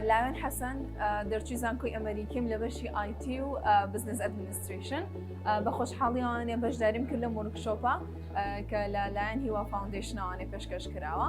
لاوێن حەسەن دەرچوی زانکۆی ئەمریکیم لە بەشی IT و بزنس ئەدمنیستریشن بە خۆشحاڵیوانێ بەشداریم کرد لە مورکشۆپە کە لە لایەن هیوا فاونندیشنەوانێ پێشکەش کراوە.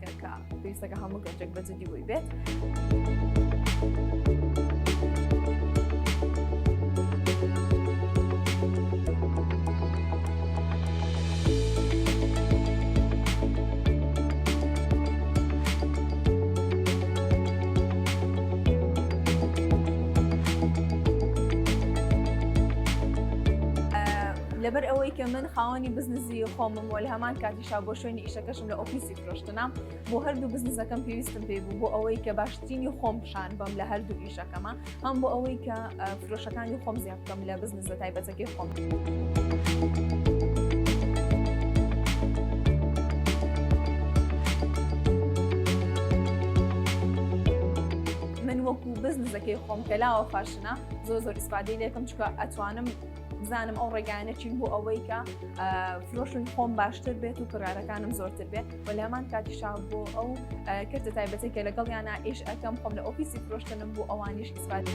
کە پێویستەکە هەموو گەنجێک بە جدی بووی بێت. لەبەر ئەوەی کە من خاوەنی بزنزی خۆمم وە لە هەمان کاتی پیشا بۆ شوێنی ئیشەکەشم لە ئۆفیسی فرۆشتنام بۆ هەردوو بزنسەکەم پێویستم پێ بوو بۆ ئەوەی کە باشترینی خۆم پیشان بم لە هەردوو ئیشەکەمە هەم بۆ ئەوەی کە فرۆشەکانی خۆم زیاد بکەم لە بزنسە تایبەتەکەی خۆم. وەکو بزنزەکەی خۆم کەلاوە فاشنە زۆ زۆر ئیسپادی لێکم چکە ئەتوانم بزانم ئەو ڕێگانە چین بۆ ئەوەی کە فرۆشن خۆم باشتر بێت و کڕارەکانم زۆرتر بێت و لەمان کاتیشا بۆ ئەو کردە تایبەتی کە لەگەڵ یانە ئیش ئەەکەم خۆم لە ئۆفیسی فرۆشتنم بۆ ئەوانیش ئیسپادی.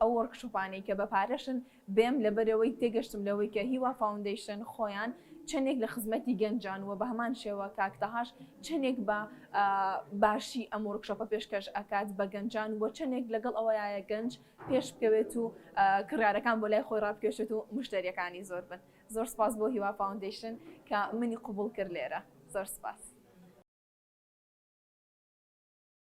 ئەو وۆرکشۆپانەی کە بە پارەشن بێم لەبەرئەوەی تێگەشتم لەوەی کە هیوا فاوندەیشن خۆیان چەندێک لە خزمەتی گەنجان وە بەهەمان شێوە کاک تەهاش چەندێک بە باشی ئەم وۆرکشۆپە پێشکەش ئەکات بە گەنجان وە چەندێک لەگەڵ ئەوەیە گەنج پێش بکەوێت و کڕیارەکان بۆ لای خۆی ڕابکێشێت و مشتەریەکانی زۆر بن زۆر سپاس بۆ هیوا فاوندەیشن کە منی قبوڵ کرد لێرە زۆر سپاس.